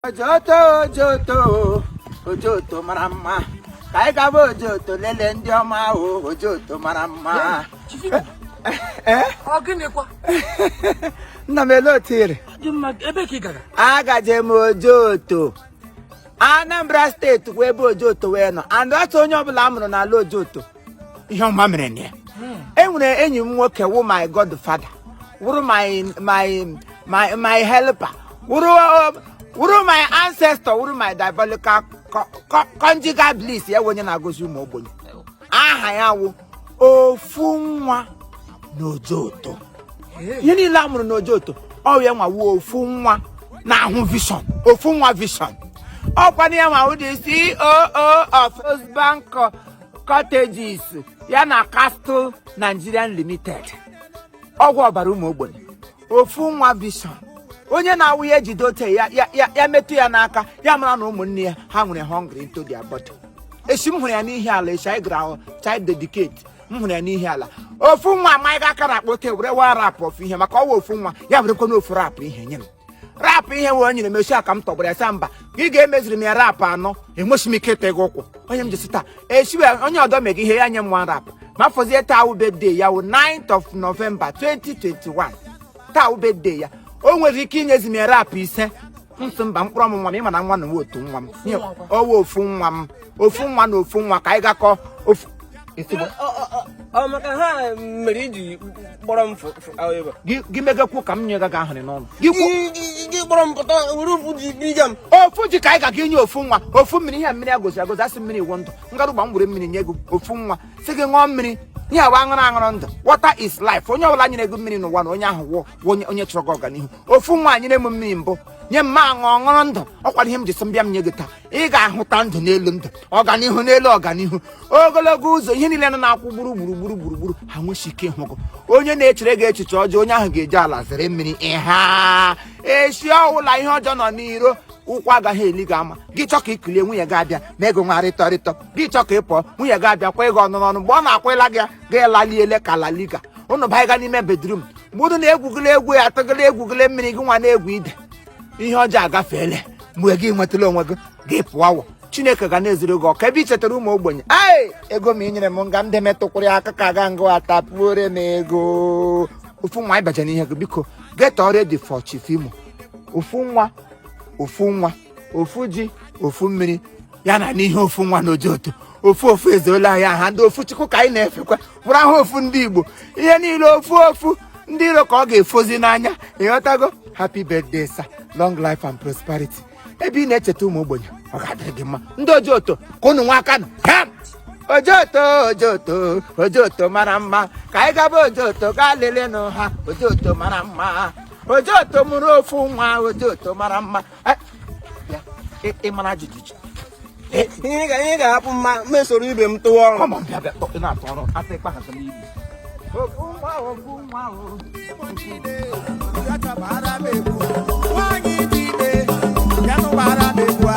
ojoto ojoto ojoto mara mma ka anyị gaba ojoto lelee ndị ọma ahụ ojoto mara mma eh? nna m ele otu ire agaje m ojoto Anambra steeti wụ ebe ojoto wee nọ and otu onye ọbụla a mụrụ n'ala ojoto ihe ọma mere na ya enwere enyi m nwoke wụ my godfather wụrụ my my my my helper wụrụ wụrụ my ancestor wụrụ my diabolical co- co- conjugal bliss ya wụ onye na-agọzi ụmụ ogbenye aha ya wụ ofu nwa n'ojoto ihe niile a mụrụ n'ojoto ọ ya nwa wụ ofu nwa na-ahụ vision ofu nwa vision ọkwa na ya nwa wụ the ceo of First Bank cottages ya na Castle Nigerian Limited ọgwụ ọbara ụmụ ogbenye ofu nwa vision onye na-awụ ya ejide ote ya ya- ya- ya metụ ya n'aka ya mara na ụmụnne ya ha nwere hungry into their body echi m hụrụ ya n'ihiala echi anyị gara child dedicate m hụrụ ya n'ihiala ofu nwa amanye aka n'akpa ote were one wrap of ihe maka ọ wụ ofu nwa ya werekwanụ ofu wrap ihe nye m wrap ihe wee nyere m echi a ka m tọgbara ya sị a mba ka ị ga-emeziri m ya wrap anọ enweghị m ike ịta gị ụkwụ onye m jisi taa echi onye ọdọ mega ihe ya nye m one wrap ma fọzie taa wụ birthday ya wụ 9th of November 2021 taa wụ birthday ya o nwere ike inyezi m ya wrap ise m sị mba mkpụrụ ọmụ nwa m ịma na nwa na nwa otu nwa m ọ wụ ofu nwa m ofu nwa na ofu nwa ka anyị gakọ ofu ọ maka ha mere i ji kpọrọ m gị megakwu ka m nye gị ahụrị n'ọnụ gị kpọrọ m pụta were ofu ji biga m ofu ji ka anyị ga gị nye ofu nwa ofu mmiri ihe mmiri agozi agozi a sị mmiri wụ ndụ ngarụgba m were mmiri nye gị ofu nwa sị gị ṅụọ mmiri ihe awa aṅụrụ aṅụrụ ndụ water is life onye ọbụla nyere gị mmiri n'ụwa na onye ahụ wụ onye chọrọ gị ọganihu ofu nwa nyere m mmiri mbụ nye m m aṅụọ ṅụrụ ndụ ọkwara ihe m ji sị m bịa m nye gị taa ị ga-ahụta ndụ n'elu ndụ ọganihu n'elu ọganihu ogologo ụzọ ihe niile nọ na-akwụ gburugburu gburugburu gburu ha nwesi ike ịhụ gị onye na-echere gị echiche ọjọọ onye ahụ ga-eji ala zere mmiri ịha esi ọwụla ihe ọjọọ nọ n'iro ụkwụ agaghị eli gị ama gị chọ ka i kulie nwunye gị abịa ma gị nwa rịtọ rịtọ gị chọ ka ị pụọ nwunye gị abịa kwa gị ọnụ n'ọnụ mgbe ọ na-akwụla gị gị laliele ka laliga ụnụ banyega n'ime bedroom mgbe ụnụ na-egwugịla egwu ya atụgịla egwugịla mmiri gị nwa na-egwu ide ihe ọjọọ agafeela mgbe gị nwetara onwe gị gị pụọ awọ chineke ga na-ezuru gị ọka ebe i chetara ụmụ ogbenye ee ego m i nyere m nga m deme tụkwụrụ ya aka ka aga ngụ ata pụore m ego ofu nwa ịbaja n'ihe gị biko get ready for chief imo ofu nwa ofu nwa ofu ji ofu mmiri ya na n'ihe ofu nwa n'ojoto ofu ofu ezeola anyị aha ndị ofu chukwu ka anyị na-efekwa bụrụ ahụ ofu ndị igbo ihe niile ofu ofu ndị iro ka ọ ga-efozi n'anya ịghọtago happy birthday sir long life and prosperity ebe ị na-echeta ụmụ ogbenye ọ ga-adịrị gị mma ndị ojoto ka unu nwa aka nụ ha ojoto ojoto ojoto mara mma ka anyị gaba ojoto gaa lelenụ ha ojoto mara mma ojoto mụrụ ofu nwa ojoto mara mma ị mara ajụjụ iche ihe ga-ahapụ mma mesoro ibe m tụwa ọrụ nwaanyị dị ime ya nụbara m egwu a